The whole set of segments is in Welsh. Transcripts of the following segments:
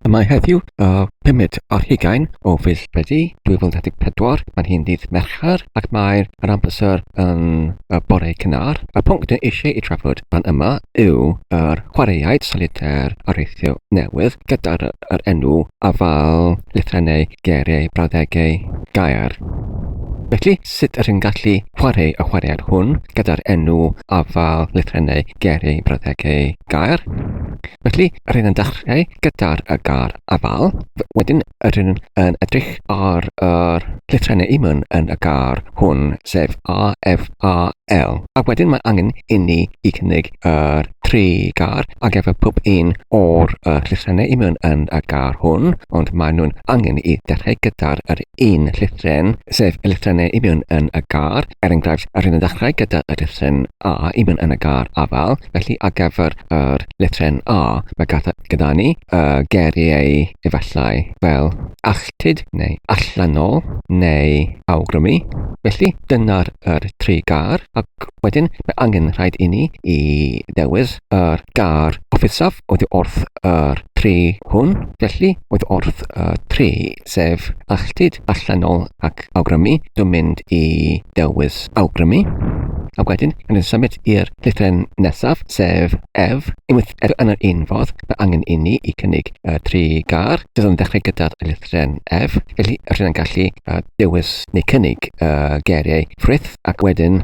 Y mae heddiw y pumed ar hugain o fis Medi 2024, mae'n hyn ddydd Mercher ac mae'r yr amser yn y bore cynnar. Y pwnc dyn eisiau ei trafod fan yma yw yr chwaraeaid solitaire areithio newydd gyda'r yr enw afal lythrennau geiriau brawddegau gair. Felly, sut yr hyn gallu chwarae y chwaraead hwn gyda'r enw afal lythrennau geiriau brawddegau gair? Felly, yr hyn yn dechrau gyda'r y gair afal, wedyn yr hyn yn edrych ar yr llythrennau imwn yn y gair hwn, sef A, F, A, L. A wedyn mae angen inni i cynnig yr tri gar a efo pob un o'r uh, llythrenau i mewn yn y gar hwn, ond maen nhw'n angen i ddechrau gyda'r yr un llythren, sef y llythrennau i mewn yn y gar. Er enghraifft, yr hyn yn ddechrau gyda y llythren A i mewn yn y gar afal, felly ar gyfer yr llythren A, mae gyda ni y geriau efallai fel ach connected neu allanol neu awgrymu. Felly dyna'r er tri gar ac wedyn mae angen rhaid i ni i ddewis yr gar offusaf oedd wrth yr tri hwn. Felly oedd wrth y tri sef alltud, allanol ac awgrymu. Dwi'n mynd i ddewis awgrymu. A wedyn, yn symud i'r Dudalen nesaf, sef Ef, unwaith er yn yr un fodd, mae angen inni i cynnig uh, tri gar. Byddwn yn dechrau gyda'r lythren Ef, felly rydyn yn gallu uh, dewis neu cynnig uh, geiriau ffrith ac wedyn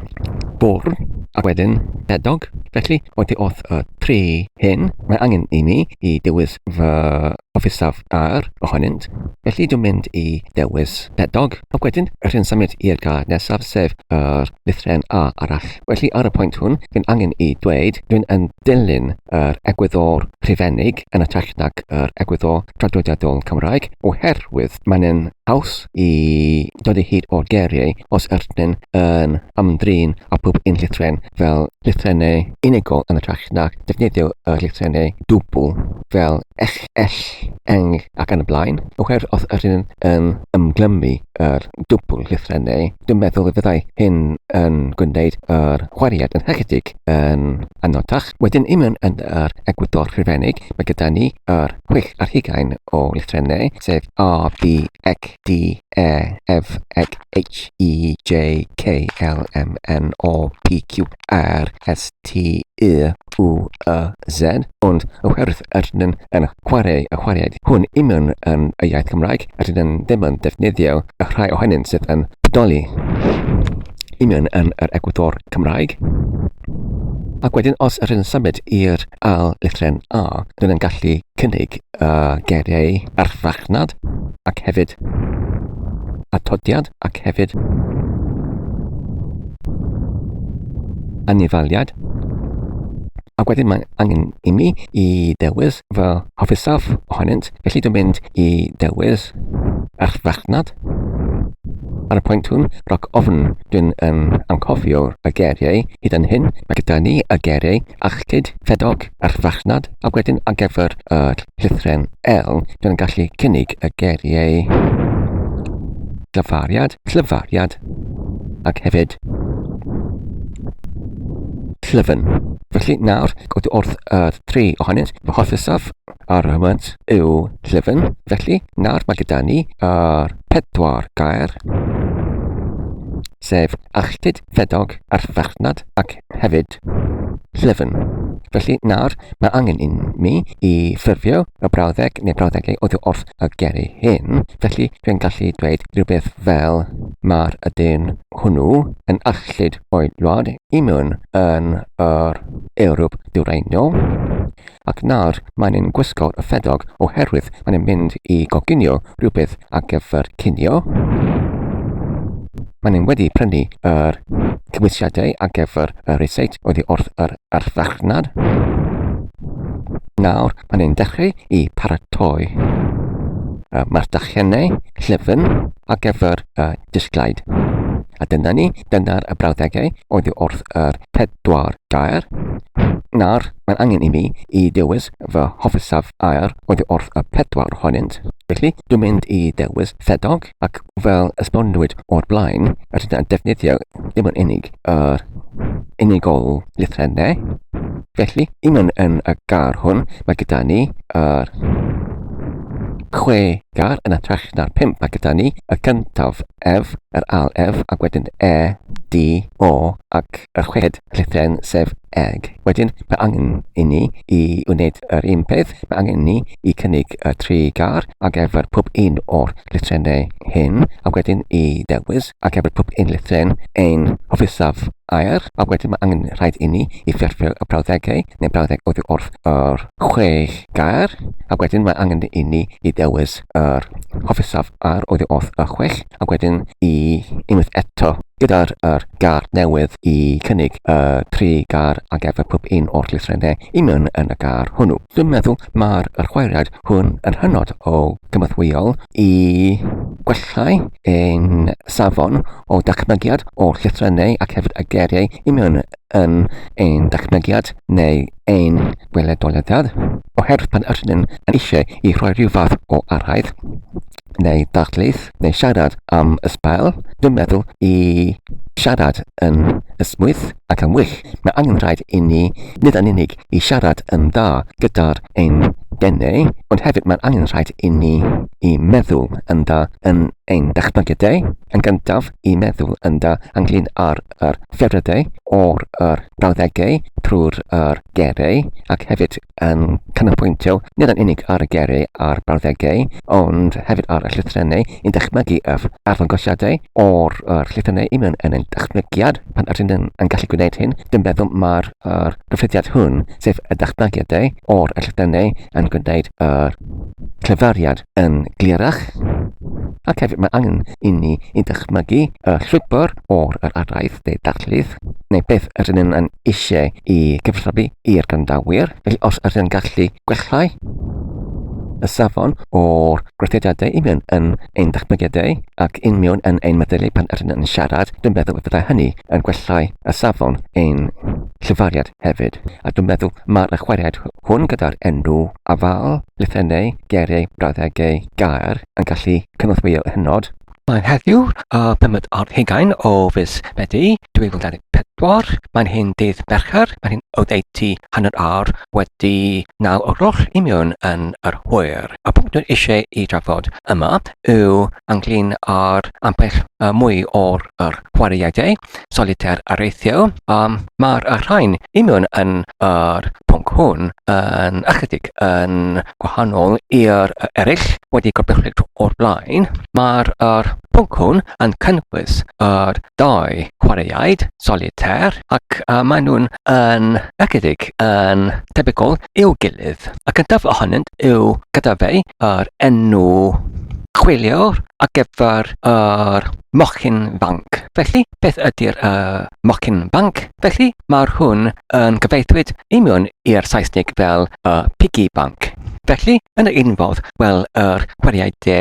bwrn ac wedyn bedog. Felly, oeddi wrth y tri hyn, mae angen i mi i dewis fy offisaf ar ohonynt. Felly dwi'n mynd i dewis pedog ac wedyn rhywun symud i'r gair nesaf sef yr lythrennau A arall. Felly ar y pwynt hwn, rwy'n angen i ddweud, rwy'n yn dilyn yr egwyddor rhufeinig yn ytrach nag yr egwyddor traddodiadol Cymraeg, oherwydd mae'n yn haws i dod o hyd o'r geiriau os yrtnyn yn ymdrin â pob un llythren fel llythrennau unigol yn ytrach nag defnyddio y llythrennau dwbl fel ech, ell, eng ac yn y blaen, oherwydd os yrtnyn yn ymglymu yr dwbl llythrennau, Dwi'n meddwl y byddai hyn yn gwneud yr wariad yn ychydig yn anodach. Wedyn i mewn yn yr egwyddor rhufeinig, mae gyda ni yr chwech ar hugain o lythrennau, sef A, B, X, D, E, F, X, H, E, J, K, L, M, N, O, P, Q, ar STUUZ, ond oherwydd rydyn yn chwarae y chwaraead hwn union yn y iaith Gymraeg, rydyn yn ddim yn defnyddio y rhai ohonynt sydd yn bodoli union yn yr egwyddor Cymraeg. Ac wedyn os rydyn yn symud i'r ail lythren A, rydyn yn gallu cynnig uh, geiriau ar farchnad ac hefyd atodiad ac hefyd anifaliad. Ac wedyn mae angen i mi i dewis fy hofisaf ohonynt, felly dwi'n mynd i dewis ar farchnad. Ar y pwynt hwn, roc ofn, dwi'n um, anghofio y geiriau hyd yn hyn. Mae gyda ni y geiriau achlyd, ffedog, a'r farchnad a wedyn ar gyfer yr llythrem L gan gallu cynnig y geiriau dyfariad, llyfariad ac hefyd llyfn. Felly nawr, gwyd wrth yr tri ohonynt, fy hofysaf ar y hwnt yw llyfn. Felly nawr mae gyda ni yr pedwar gair, sef alltud, ffedog, arfarchnad ac hefyd llyfn. Felly nawr mae angen i mi i ffurfio y brawddeg neu brawddegau oddi wrth y geri hyn, felly dwi'n gallu dweud rhywbeth fel mae'r ydyn hwnnw yn arllid o'i wlad i mewn yn yr Ewrop Dwyrainiol, ac nawr maen nhw'n gwisgo y ffedog oherwydd maen nhw'n mynd i goginio rhywbeth ar gyfer cinio. Maen nhw'n wedi prynu yr cymwysiadau ar gyfer y resit oddi wrth yr arfarchnad. Nawr maen nhw'n dechrau i paratoi y mardachiannau llyfn ar gyfer y disglair. A dyna ni, dyna'r y brawddegau oedd wrth yr pedwar gair. Nawr, mae'n angen i mi i dewis fy hofisaf air oedd wrth y pedwar ohonynt. Felly, dwi'n mynd i dewis ffedog, ac fel esbonwyd o'r blaen, rydyn ni'n defnyddio dim ond unig yr unigol lythrennau. Felly, un yn y gar hwn, mae gyda ni yr chwe Gar yn ytrach na'r pump a gyda ni, y cyntaf ef, yr ail ef, ac wedyn e, di, o, ac yr chweched llythryn sef eg. Wedyn, mae angen i ni i wneud yr un peth, mae angen ni i cynnig y tri gar ar gyfer pob un o'r llythrennau hyn, ac wedyn i ddewis ar gyfer pob un llythryn ein hofisaf. aur, a wedyn mae angen rhaid inni i fyfyrio y brawddegau neu brawddeg oddi wrth yr chwech gair, a wedyn mae angen inni i ddewis yr hofisaf aur oddi wrth y chwech, a wedyn i unwaith eto gyda'r yr gair newydd i cynnig y tri gair a gefur pob un o'r llythrennau i mewn yn y gair hwnnw. Dwi'n meddwl mae'r yr chwaraead hwn yn hynod o gymorthwyol i gwellhau ein safon o dachmygiad o'r llythrennau ac hefyd y geiriau i mewn yn ein dachmygiad neu ein gweledoliadau, oherwydd pan ydyn ni'n eisiau i rhoi rhyw fath o arhaudd neu ddarlith neu siarad am y sbael, dwi'n meddwl i siarad yn ysmwyth ac yn wych. Mae angen rhaid i ni nid yn unig i siarad yn dda gyda'r ein denau, ond hefyd mae'n angen rhaid i ni i meddwl yn dda yn ein dychmygiadau, yn gyntaf i meddwl yn dda ynglyn â'r yr ffyrddau o'r yr brawddegau trwy'r yr gerei ac hefyd yn canolbwyntio nid yn unig ar y gerei a'r brawddegau ond hefyd ar y llythrennau yn dychmygu yr arddangosiadau o'r yr llythrennau i mewn yn ein dychmygiad pan ydyn yn yn gallu gwneud hyn dwi'n meddwl mae'r yr cyffyrddiad hwn, sef y datblygiadau o'r ellylltannau yn gwneud yr clefariad yn glerach, ac hefyd mae angen i ni i ddychmygu y llwybr o'r yr araith de darllydd, neu beth yr ydyn yn eisiau i gyfathrebu i'r grandawyr, felly os yr ydyn gallu gwellhau y safon o'r gweithrediadau i mewn yn ein datblygiadau ac un mewn yn ein meddylu pan yr ydyn yn siarad, dwi'n meddwl y byddai hynny yn gwellhau a safon ein llifariad hefyd, a dwi'n meddwl mae'r ychwariad hwn gyda'r enw, afael, lythennau, geiriau, brawddegau, gair yn gallu cynorthwyo hynod. Mae'n heddiw y pumed ar hugain o fis Medi 2024. Mae'n hyn dydd Mercher, mae'n hyn oddeutu hanner awr wedi naw o'r gloch i mewn yn yr hwyr. Y pwnc dwi'n eisiau i drafod yma yw ynglyn â'r ambell mwy o'r chwaraeadau solitaire areithiol, a mae'r rhain i mewn yn yr pwnc hwn yn ychydig yn gwahanol i'r eraill wedi gorbrychwyd o'r blaen. Mae'r er pwnc hwn yn cynnwys yr dau chwaraeaid, solitaire, ac uh, maen nhw'n yn ychydig yn tebygol i'w gilydd. Y cyntaf ohonynt yw gyda fe yr enw chwiliwr ar gyfer yr mochyn fanc. Felly, beth ydy'r uh, mochyn fanc? Felly, mae'r hwn yn gyfeithwyd i mewn i'r Saesnig fel y uh, piggy bank. Felly, yn yr un fodd, wel, yr chwaraeau de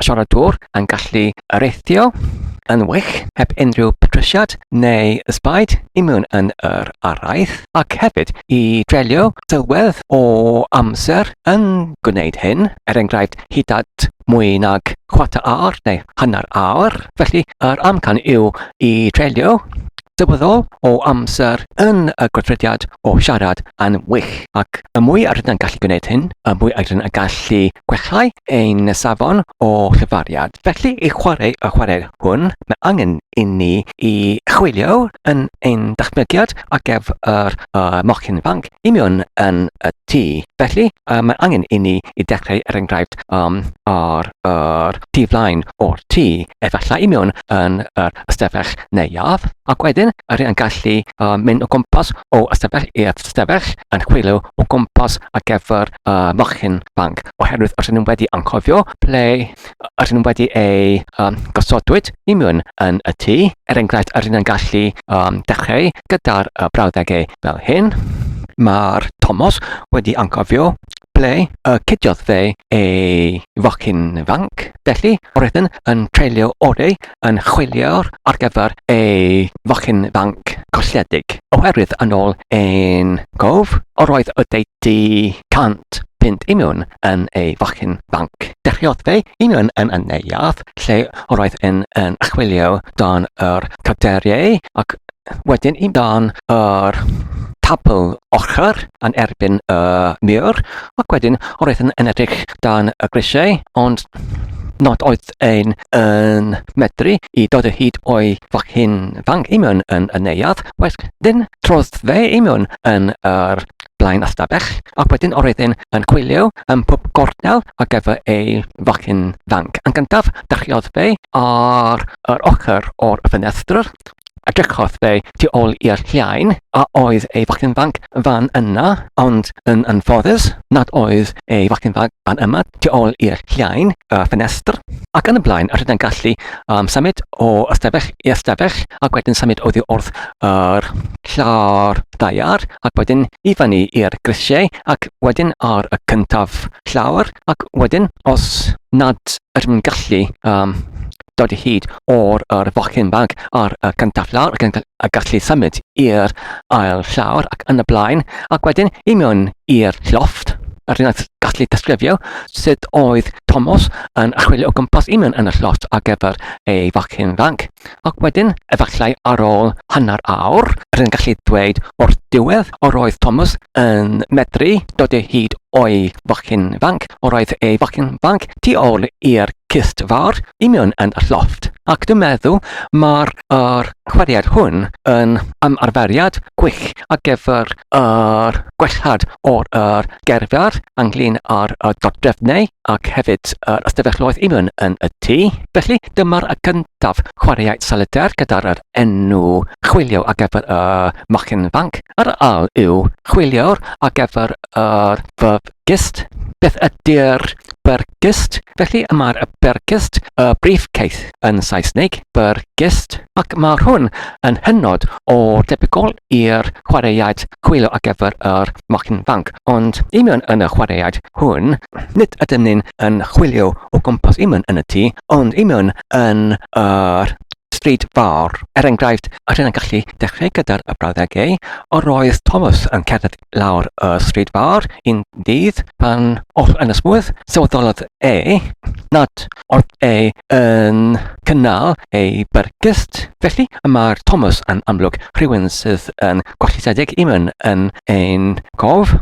siaradwr yn gallu areithio yn wych heb unrhyw patrisiad neu ysbaid i mewn yn yr araith ac hefyd i dreulio sylwedd o amser yn gwneud hyn, er enghraifft hyd at mwy nag chwarter awr neu hanner awr. Felly yr amcan yw i dreulio Dywedodd o amser yn y gweithrediad o siarad yn wych, ac y mwy a rydyn yn gallu gwneud hyn, y mwy a rydyn yn gallu gwellhau ein safon o chyfariad. Felly, i chwarae y chwarae hwn, mae angen inni i chwilio yn ein datblygiad ar gyfer y mochyn ifanc i mewn yn y tŷ. Felly, mae angen inni i dechrau, er enghraifft, ar y tu flaen o'r tŷ, efallai i mewn yn yr ystafell neuadd, ac wedyn yr yn gallu uh, mynd o gwmpas o ystafell i'r ystafell yn chwilio o gwmpas ar gyfer uh, mochyn banc, oherwydd os nhw'n wedi anghofio ple os nhw'n wedi ei um, gosodwyd i mewn yn y tŷ, er enghraifft yr yn gallu um, dechrau gyda'r uh, brawddegau fel hyn, mae'r Thomas wedi anghofio ble y cydiodd fe ei focyn fanc, felly roeddwn yn treulio orau yn chwilio ar gyfer ei focyn fanc colledig, oherwydd yn ôl ein cof, yr oedd oddeutu 100 punt i mewn yn ei focyn fanc. Dechreuodd fe i mewn yn y neuadd, lle yr oedd yn chwilio dan yr carteriau ac wedyn yn dan yr tabl ochr yn erbyn y mur, ac wedyn roedd yn, yn edrych dan y grisiau, ond nad oedd ein yn medru i dod o hyd o'i fachyn fang imion yn y neuadd, wedyn trodd fe imion yn yr blaen astabell, ac wedyn o'r edyn yn chwilio yn pob gornel a gyfer ei fachyn fang. Yn gyntaf, dachiodd fe ar yr ochr o'r ffenestr, a drychodd fe tu ôl i'r llain, a oedd ei fachgen fanc fan yna, ond yn anffodus nad oedd ei fachgen fanc fan yma tu ôl i'r llain, y ffenestr, ac yn y blaen, yr hynna'n gallu um, symud o ystafell i ystafell, ac wedyn symud oddi wrth yr llawr ddaear, ac wedyn i fyny i'r grisiau, ac wedyn ar y cyntaf llawr, ac wedyn, os nad ydym yn gallu um, dod hyd or yr focyn bag ar y cyntaf llawr ac yn y gallu symud i'r ail llawr ac yn y blaen ac wedyn i mewn i'r llofft yr un gallu disgrifio sut oedd Tomos yn chwilio o gwmpas i mewn yn y llofft ar gyfer ei focyn fanc. Ac wedyn, efallai ar ôl hanner awr, yr un gallu dweud o'r diwedd, yr oedd Thomas yn medru dod o hyd o'i bachgen fanc, o roedd e bachgen fanc tu ôl i'r cyst fawr, i mewn yn y llofft. Ac dwi'n meddwl mae'r er chweriad hwn yn ymarferiad gwych ar gyfer yr gwellhad o'r er gerdded ynglyn â'r y dodrefnau ac hefyd yr ystafelloedd i mewn yn y tŷ. Felly dyma'r y cyntaf chwaraeau solitaire gyda'r er enw chwilio ar gyfer y mochyn fanc. Yr ail yw chwilio'r ar gyfer yr Bergist. Beth ydy'r Bergist? Felly mae'r Bergist, y briefcase yn Saesneg, Bergist, ac mae hwn yn hynod o debygol i'r chwaraead chwilio ar gyfer yr Mochyn Fanc. Ond i mewn yn y chwaraead hwn, nid ydym ni'n yn chwilio o gwmpas i mewn yn y tŷ, ond i mewn yn yr stryd fawr. Er enghraifft, yr hyn yn gallu dechrau gyda'r brawddegau, yr oedd Thomas yn cerdded lawr y stryd fawr un dydd pan oedd yn ysgwydd, sylweddolodd e nad oedd e yn cynnal ei byrgyst. Felly, y mae'r Thomas yn amlwg rhywun sydd yn gwellitedig i mewn yn ein cof.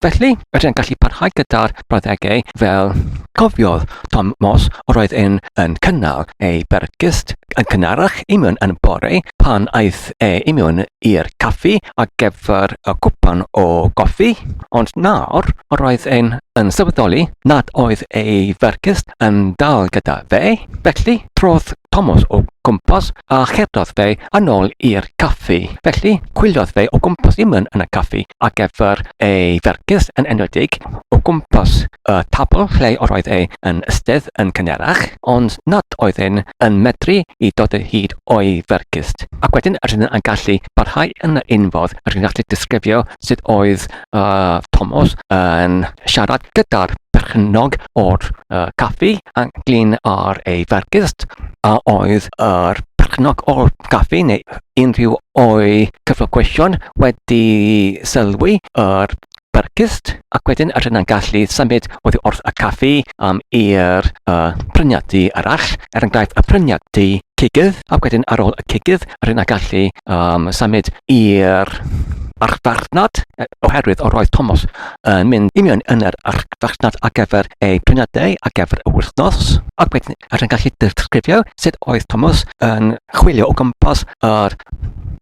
Felly, rydyn gallu parhau gyda'r brawddegau fel cofiodd Tom Moss yr oedd yn cynnal ei byrgyst yn cynharach i mewn yn bore pan aeth e i mewn i'r caffi ar gyfer y cwpan o goffi, ond nawr yr oedd e'n yn sylweddoli nad oedd ei fergus yn dal gyda fe, felly trodd Tomos o gwmpas a cherddodd fe yn ôl i'r caffi. Felly, chwiliodd fe o gwmpas i mewn yn y caffi ar gyfer ei fergus yn enwedig o gwmpas y tabl lle yr oedd e yn ystedd yn cynharach, ond nad oedden yn medru i dod o hyd o'i fergyst. Ac wedyn yr hyn yn gallu parhau yn yr un fodd, yr hyn gallu disgrifio sut oedd uh, Thomas yn siarad gyda'r perchennog o'r uh, caffi a glin ar ei fergyst, a oedd yr perchennog o'r caffi neu unrhyw o'i cyflogwysion wedi sylwi yr brecwast ac wedyn rydyn ni'n gallu symud oddi wrth y caffi um, i'r uh, pryniadu arall, er enghraifft y pryniadu cigydd, ac wedyn ar ôl y cigydd rydyn ni'n gallu um, symud i'r archfarchnad, e, oherwydd o roedd Thomas yn mynd i mewn yn yr archfarchnad ar gyfer ei prynadau ar gyfer y wythnos, ac wedyn rydyn ni'n gallu disgrifio sut oedd Thomas yn chwilio o gwmpas yr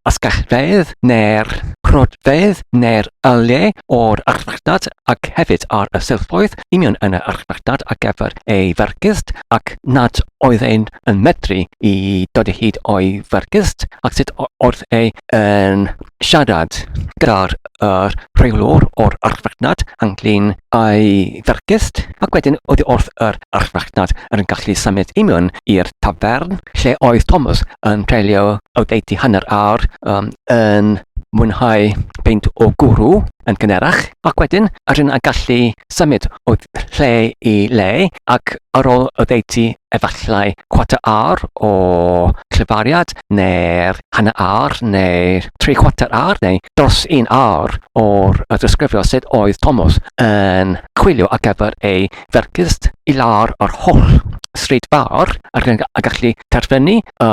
asgellfeydd neu'r cronfeydd neu'r yliau o'r archfarchnad ac hefyd ar y silffoedd union yn yr archfarchnad ar gyfer ei fergyst ac nad oedd ein yn medru i dod o hyd o'i fergyst ac sut oedd ei yn siarad gyda'r yr rheolwr o'r archfarchnad ynglyn â'i fergyst ac wedyn oedd wrth yr archfarchnad yn gallu symud union i'r tafern lle oedd Thomas yn treulio oddeutu hanner awr um, yn mwynhau peint o gwrw yn cynerach, ac wedyn rydyn a gallu symud o lle i le ac ar ôl oddeutu efallai cwata awr o clyfariad neu'r hanner awr neu tri chwarter awr neu dros un awr o'r ddisgrifio sut oedd Thomas yn chwilio ar gyfer ei fergist i lawr yr holl stryd fawr ac yn gallu terfynu y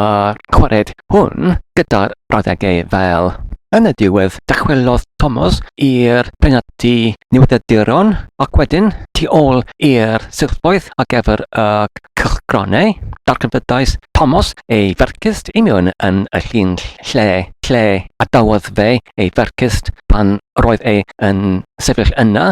gwared hwn gyda'r brawddegau fel Yn y diwedd, dychwelodd Thomas i'r penalty newyddiaduron ac wedyn tu ôl i'r silffoedd ar gyfer y cylchgronau, darganfyddais Thomas ei fergist i mewn yn y llun lle, lle adawodd fe ei fergist pan roedd e yn sefyll yna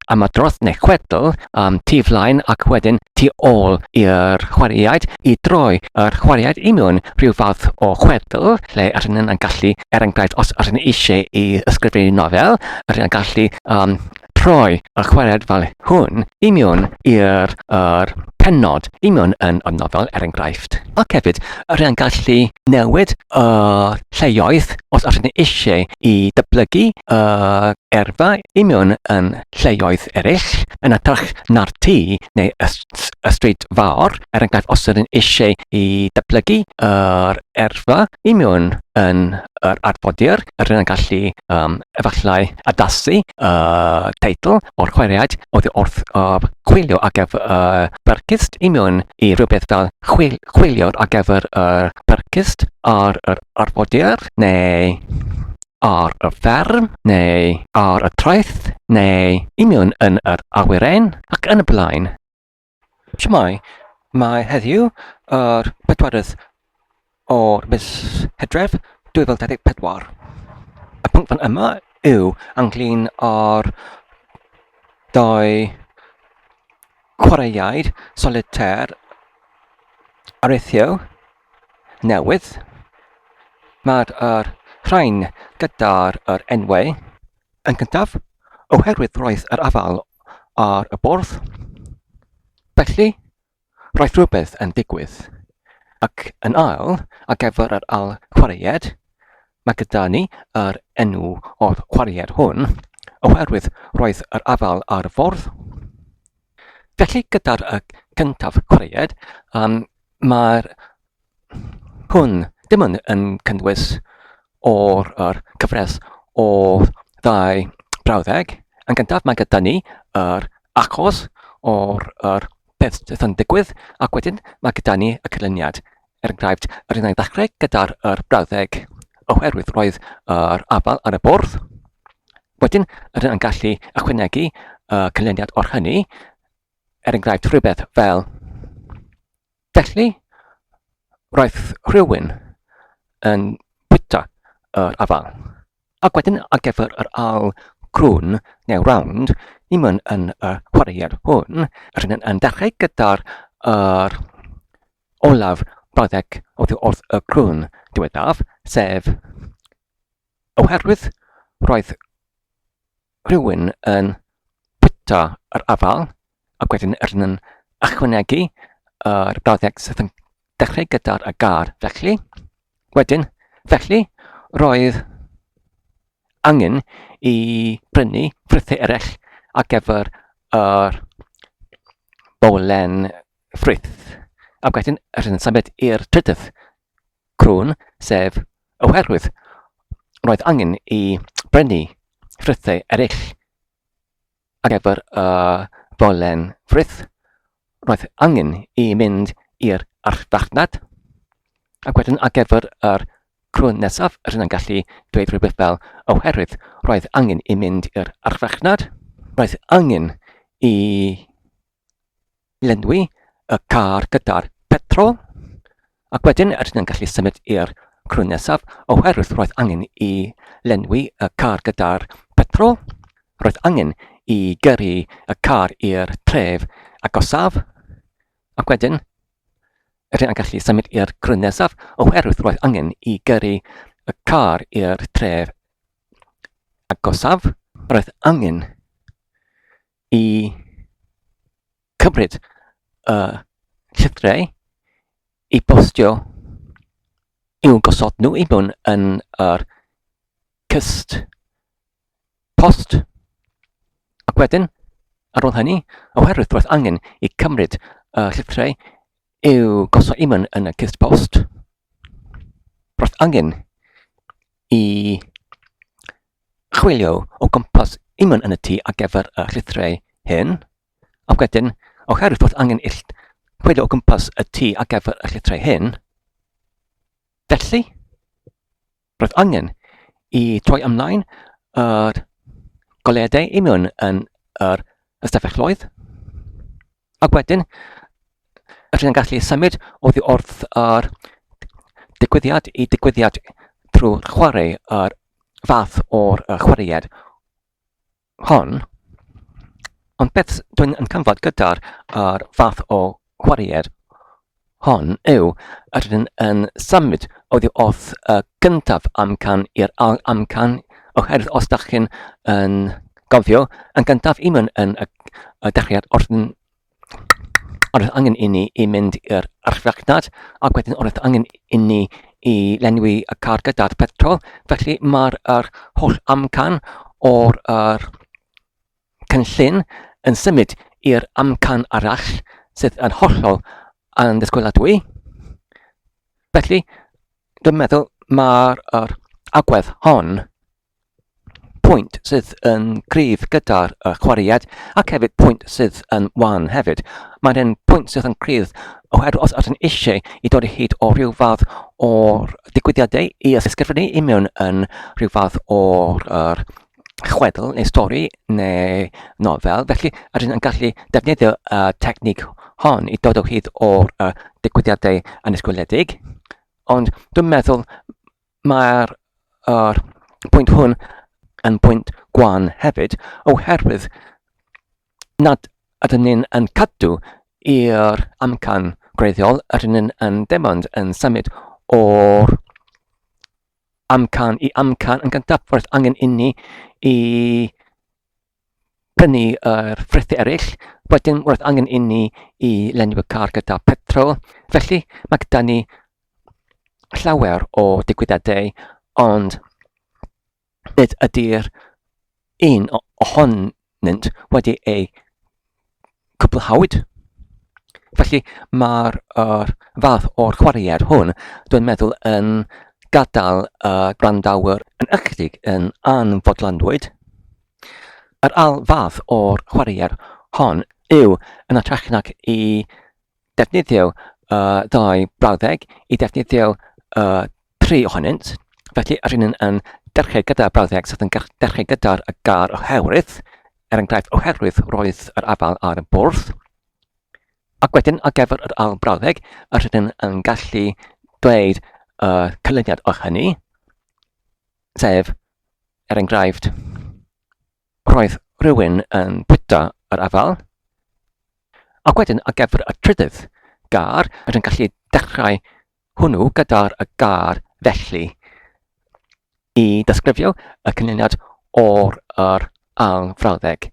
am y dros neu chwedl am tu flaen ac wedyn tu ôl i'r chwaraeaid i droi yr chwaraeaid i mewn rhyw fath o chwedl lle rydyn nhw'n yn gallu, er enghraifft, os rydyn nhw eisiau i ysgrifennu nofel, rydyn nhw'n gallu um, troi y chwaraeaid fel hwn i mewn i'r er, penod i mewn yn y nofel, er enghraifft. Ac hefyd, rydyn nhw'n gallu newid y uh, lleoedd os rydyn nhw eisiau i dyblygu y gyrfa i mewn yn lleoedd eraill, yn hytrach na'r tŷ neu y, y stryd fawr, er enghraifft os ydyn eisiau i dyblygu yr erfa i mewn yn yr arfodir, yr yn gallu um, efallai addasu y uh, teitl o'r chweriad oedd wrth uh, chwilio ar gyfer y uh, bercyst i mewn i rhywbeth fel chwil, chwilio ar gyfer y uh, bercyst ar yr arfodir. neu ar y fferm, neu ar y traeth, neu union yn yr awyren, ac yn y blaen. Siamai, mae heddiw yr bedwaredd o'r mis Hydref 2024. Y pwnc fan yma yw ynglyn â'r dau chwaraeaid solitaire areithio newydd. Mae'r er, rhain gyda'r er enwau yn gyntaf, oherwydd roedd yr afael ar y bwrdd. Felly, roedd rhywbeth yn digwydd. Ac yn ail, ar gyfer yr ail chwaraead, Mae gyda ni yr enw o'r chwaraewr hwn, oherwydd roedd yr afael ar y ffordd. Felly gyda'r y cyntaf chwaraead, um, mae'r hwn dim ond yn cynnwys o'r yr cyfres o ddau brawddeg. Yn gyntaf mae gyda ni yr achos o'r yr peth sydd yn digwydd ac wedyn mae gyda ni y cylyniad. Er enghraifft, yr un a ddechrau gyda'r yr brawddeg, oherwydd roedd yr afal ar y bwrdd. Wedyn, yr un yn gallu ychwanegu y cynlyniad o'r hynny, er enghraifft rhywbeth fel Felly, roedd rhywun yn bwyta yr afal. Ac wedyn ar gyfer yr al crwn neu round, ni myn yn y chwaraead hwn, yr hyn yn dechrau gyda'r er, Olaf Baddeck oddi wrth y crwn diwethaf, sef, Oherwydd roedd rhywun yn bwyta yr afael, ac wedyn yn ychwanegu yr Baddeck sydd yn dechrau gyda'r agar, felly, wedyn, felly, roedd angen i brynu ffrwythau eraill ar gyfer yr bowlen Frith, ac wedyn rydyn symud i'r trydydd crwn, sef oherwydd roedd angen i brynu ffrithau eraill ar gyfer y ddolen frith, roedd angen i mynd i'r archfarchnad, ac wedyn ar gyfer yr crwn nesaf, rydyn yn gallu dweud rhywbeth fel oherwydd roedd angen i mynd i'r archfarchnad, roedd angen i lenwi y car gyda'r petrol ac wedyn rydyn yn gallu symud i'r crwn nesaf oherwydd roedd angen i lenwi y car gyda'r petrol. Roedd angen i gyrru y car i'r tref agosaf ac wedyn rydyn yn gallu symud i'r crwn nesaf oherwydd roedd angen i gyrru y car i'r tref agosaf. Roedd angen i cymryd y llythriau i bostio i'w gosod nhw i mewn yn yr cyst post. Ac wedyn, ar ôl hynny, oherwydd roedd angen i cymryd y llythriau i'w gosod i mewn yn y cyst post, roedd angen i chwilio o gwmpas unman yn y tŷ ar gyfer y llithrau hyn, ac wedyn, oherwydd bod angen ill chwilio o gwmpas y tŷ ar gyfer y llithrau hyn, felly, roedd angen i troi ymlaen yr goleadau union yn yr ystafelloedd, Ac wedyn, rydyn yn gallu symud oddi wrth yr digwyddiad i digwyddiad trwy chwarae yr fath o'r chwaraead hon. Ond beth dwi'n yn cyfnod gyda'r fath o chwaraead Hon yw, rydyn yn symud oddi wrth y gyntaf amcan i'r ail amcan, oherwydd os da chi'n yn gofio, yn gyntaf i mewn yn y, y dechreuad wrth yn oedd angen i ni i mynd i'r archfarchnad ac wedyn oedd angen i ni i lenwi y car gyda'r petrol. Felly mae'r er, holl amcan o'r er, cynllun yn symud i'r amcan arall sydd yn hollol andisgwyladwy. Felly, dwi'n meddwl mae'r er agwedd hon pwynt sydd yn gryf gyda'r er chwaraead ac hefyd pwynt sydd yn wan hefyd. Mae'n hyn pwynt sydd yn gryf oherwydd os ydyn eisiau i dod i hyd o rhyw fath o'r digwyddiadau i ysgrifennu i mewn yn rhyw fath o'r er, chwedl neu stori neu nofel. Felly, rydyn yn gallu defnyddio y technig hon i dod o hyd o'r uh, digwyddiadau anisgwyledig. Ond dwi'n meddwl mae'r uh, pwynt hwn yn pwynt gwan hefyd, oherwydd nad ydyn ni'n yn cadw i'r amcan gwreiddiol, ydyn ni'n yn dim ond yn symud o'r amcan i amcan yn gyntaffordd angen inni i prynu yr ffrithau eraill, wedyn roedd angen inni i lenwi y car gyda petrol, felly mae gyda ni llawer o digwyddiadau, ond nid ydy'r un ohon arnynt wedi eu cwblhawyd. Felly mae'r er, fath o'r chwaraead hwn, dwi'n meddwl, yn gadael y uh, gwrandawyr yn ychydig yn anfodlonwyd. Yr al fath o'r chwaraead hon yw yn atrach nac i defnyddio uh, ddau brawddeg i defnyddio uh, tri ohonynt. Felly, yr un yn dechrau gyda brawddeg sydd yn dechrau gyda'r y gar oherwydd, er enghraifft oherwydd roedd yr afal ar y bwrdd. Ac wedyn, ar gyfer yr ail brawddeg, yr hyn yn gallu dweud uh, cylyniad o hynny, sef, er enghraifft, Roedd rhywun yn bwyta yr afael, ac wedyn ar gyfer y trydydd gar, rydyn ni'n gallu dechrau hwnnw gyda'r y gar felly i ddysgrifio y cynlyniad o'r yr ail frawddeg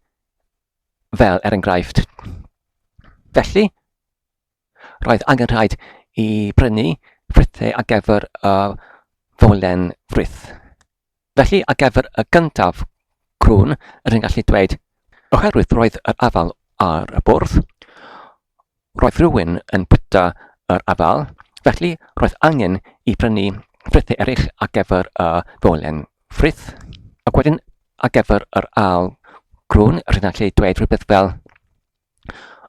fel er enghraifft. Felly, Roedd angen rhaid i brynu frithau ar gyfer y fowlen frith. Felly, ar gyfer y gyntaf crwn, rydyn gallu dweud, oherwydd roedd yr afal ar y bwrdd, roedd rhywun yn bwyta yr afal, felly roedd angen i brynu frithau eraill ar gyfer y fowlen frith. Ac wedyn, ar gyfer yr ail crwn, rydyn gallu dweud rhywbeth fel,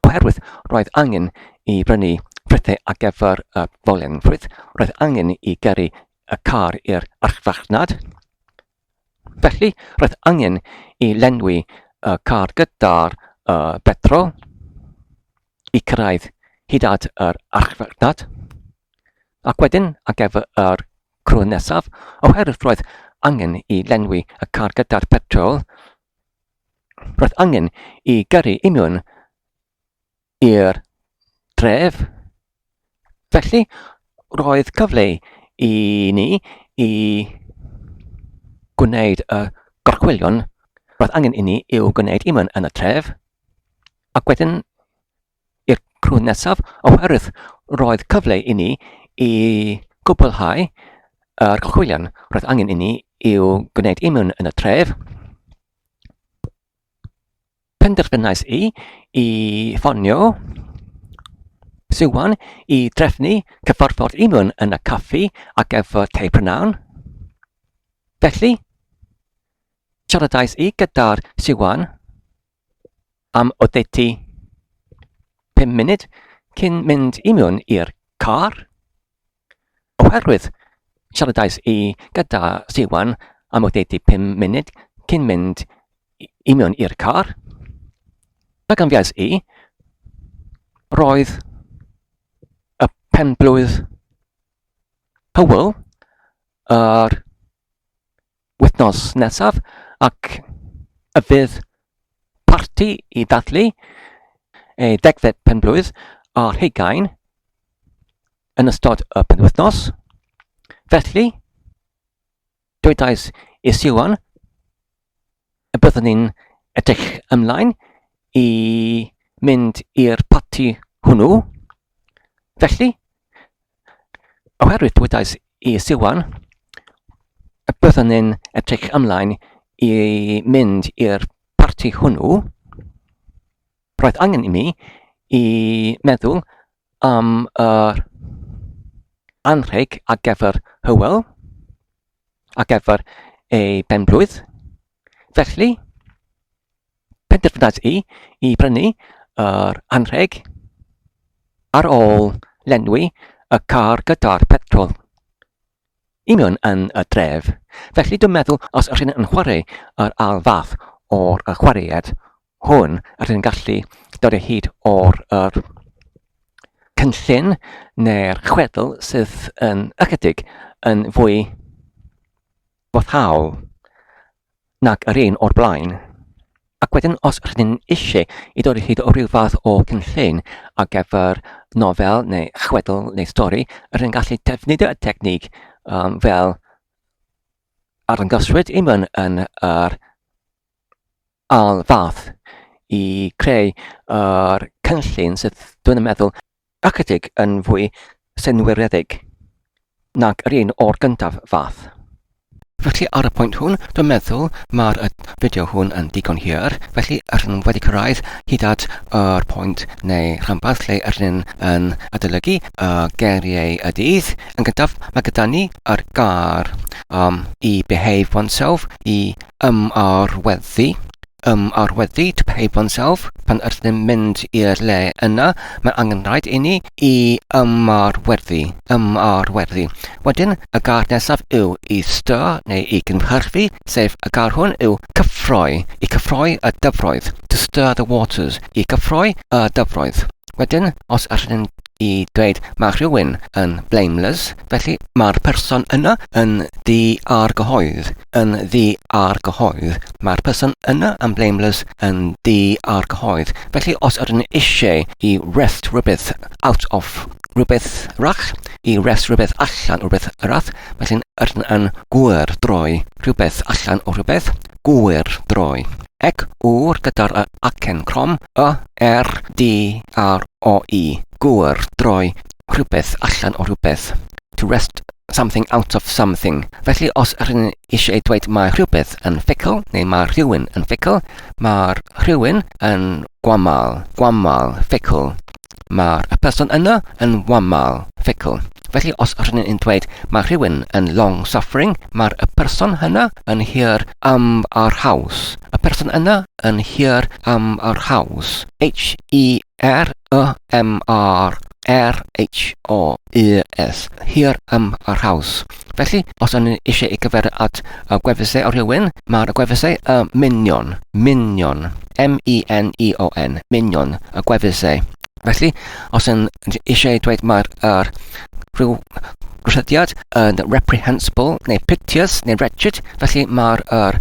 Oherwydd roedd angen i brynu prydau ar gyfer y fowlenfryd, roedd angen i gyrru y car i'r archfarchnad. Felly, roedd angen i lenwi y car gyda'r uh, betrol i cyrraedd hyd at yr archfarchnad. Ac wedyn, ar gyfer yr crwn nesaf, oherwydd roedd angen i lenwi y car gyda'r petrol, Roedd angen i gyrru union i'r dref. Felly, roedd cyfle i ni i gwneud y gorchwylion roedd angen i ni i'w gwneud union yn y tref, ac wedyn i'r crwn nesaf oherwydd roedd cyfle i ni i gwblhau yr gorchwylion roedd angen i ni i'w gwneud i mewn yn y tref. Penderfynais i i ffonio Siwan i drefnu cyfarfod i mewn yn y caffi ac efo tei prynawn. Felly, siaradais i gyda'r Siwan am oddeutu pum munud cyn mynd i mewn i'r car, oherwydd siaradais i gyda Siwan am oddeutu pum munud cyn mynd i mewn i'r car. Fe ganfiais i, roedd y penblwydd Hywel yr wythnos nesaf ac y bydd parti i ddathlu ei degfed penblwydd ar hugain yn ystod y penwythnos. Felly, dwedais i Siwan y byddwn ni'n edrych ymlaen i mynd i'r parti hwnnw. Felly, oherwydd dwydais i Siwan, y byddwn ni'n edrych ymlaen i mynd i'r parti hwnnw, roedd angen i mi i meddwl am yr anrheg ar gyfer Hywel, ar gyfer ei benblwydd. Felly, penderfynais i i brynu yr anrheg ar ôl lenwi y car gyda'r petrol i mewn yn y dref. Felly dwi'n meddwl os ydych chi'n chwarae yr ail fath o'r chwaraead hwn rydyn ni'n gallu dod o hyd o'r yr cynllun neu'r chwedl sydd yn ychydig yn fwy boddhaol nag yr un o'r blaen. Ac wedyn, os rydyn eisiau i ddod o hyd o ryw fath o cynllun ar gyfer nofel neu chwedl neu stori, rydyn gallu defnyddio y technig um, fel arddangoswyd i mewn yn yr ail fath i creu yr cynllun sydd, dwi'n meddwl, ychydig yn fwy synwyredig nag yr un o'r gyntaf fath. Felly ar y pwynt hwn, dwi'n meddwl mae'r fideo hwn yn digon hir, felly yr yn wedi cyrraedd hyd at yr pwynt neu rhanbarth lle yr yn yn adolygu y geiriau y dydd. Yn gyntaf, mae gyda ni yr gair um, i behave oneself, i ymarweddu, ymarweddu to pay oneself, pan ydym mynd i'r le yna, mae angen rhaid i ni i ymarweddu, ymarweddu. Wedyn, y gair nesaf yw i styr neu i gynhyrfu, sef y gair hwn yw cyffroi, i cyffroi y dyfroedd, to stir the waters, i gyffroi y dyfroedd. Wedyn, os ydym i dweud mae rhywun yn blameless, felly mae'r person yna yn di-argyhoedd, yn ddu a'r cyhoedd, mae'r person yna yn blameless yn ddu a'r cyhoedd. Felly os ydyn ni eisiau i rest rhywbeth out of rhywbeth rach, i rest rhywbeth allan o rhywbeth rach, felly ydyn yn gwyr droi rhywbeth allan o rhywbeth, gwyr droi. Ec ŵr gyda'r y acen crom, y, r, d, r, o, e, gwyr droi rhywbeth allan o rhywbeth, to wrest something out of something. Felly os rydyn ni eisiau dweud mae rhywbeth yn ffugl neu mae rhywun yn ffugl, mae'r rhywun yn wamal, wamal, ffugl. Mae'r y person yno yn wamal, ffugl. Felly os rydyn ni'n dweud mae rhywun yn long suffering, mae'r y person hynna yn hir am yr haws. Y person yna yn hir am yr haws. H-E R Y M R R H O U S Here Ym Yr Haws. Felly, os o'n eisiau ei gyfer at y gwefusau o rhywun, mae'r gwefusau y minion, minion, M-E-N-E-O-N, minion, y gwefusau. Felly, os yn eisiau dweud mae'r er, rhyw rhyddiad yn reprehensible neu piteous neu wretched, felly mae'r er,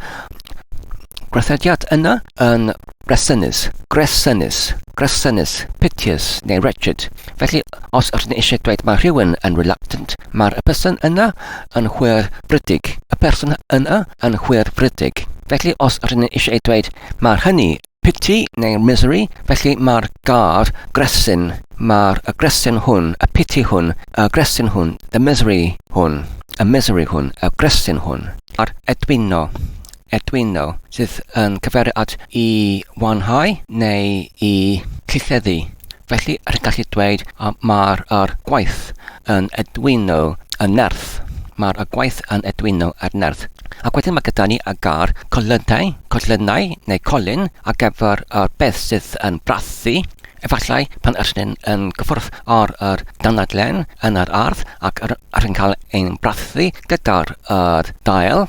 gwythediad yna yn Gresynus, Gresynus, Gresynus, piteous neu wretched. Felly, os ydyn ni eisiau dweud mae rhywun yn reluctant, mae'r y person yna yn hwyr frydig. Y person yna yn hwyr frydig. Felly, os ydyn ni eisiau dweud mae'r hynny pity neu misery, felly mae'r gair gresyn, mae'r y gresyn hwn, y pity hwn, y gresyn hwn, the misery hwn, y misery hwn, y gresyn hwn, a'r edwino, Arduino, sydd yn cyfeirio at i wanhau neu i llytheddu. Felly, rhaid gallu dweud mae'r er gwaith yn Arduino yn nerth. Mae'r er gwaith yn Arduino ar nerth. Ac wedyn mae gyda ni y gair colynau, colynau neu colyn ar gyfer yr beth sydd yn brathu. Efallai pan ydych chi'n yn gyffwrdd ar yr danadlen yn yr ardd ac rydych chi'n cael ein brathu gyda'r dail.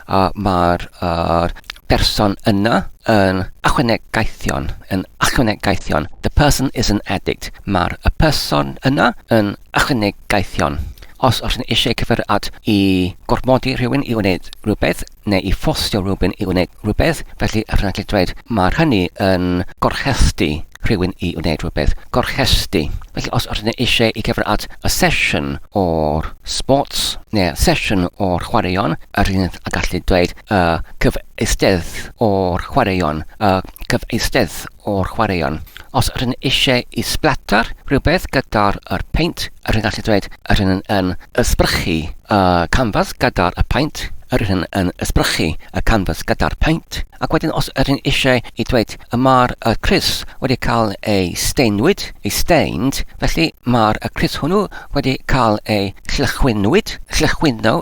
a mae'r er, person yna yn ychwanegaethion, yn ychwanegaethion. The person is an addict. Mae'r y person yna yn ychwanegaethion. Os oes yn eisiau cyfer at i gormodi rhywun i wneud rhywbeth neu i ffosio rhywun i wneud rhywbeth, felly yr yn dweud mae'r hynny yn gorchesty rhywun i wneud rhywbeth. Gorchesty. Felly os oes yn eisiau i cyfer at y sesiwn o'r sports neu sesiwn o'r chwaraeon, yr hyn a gallu dweud y cyfeistedd o'r chwaraeon, y cyfeistedd o'r chwaraeon. Os yr hyn eisiau i splatter rhywbeth gyda'r yr paint, yr hyn gallu dweud yr hyn yn ysbrychu y canfas gyda'r y paint, yr hyn yn ysbrychu y canfas gyda'r paint, ac wedyn os yr hyn eisiau i dweud y mae'r y Chris wedi cael ei steinwyd, ei stained, felly mae'r y Chris hwnnw wedi cael ei llychwynwyd, llychwyno,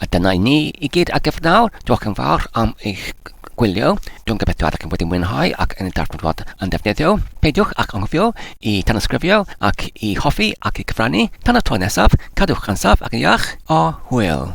A dyna i ni i gyd ar gyfer nawr. Diolch yn fawr am eich gwylio. Dwi'n gobeithio ydych chi wedi mwynhau ac yn y darfod fod yn ddefnyddio. Peidiwch ac anghofio i tanysgrifio ac i hoffi ac i gyfrannu. Tan y tro nesaf, cadwch yn saff ac yn iach, a hwyl!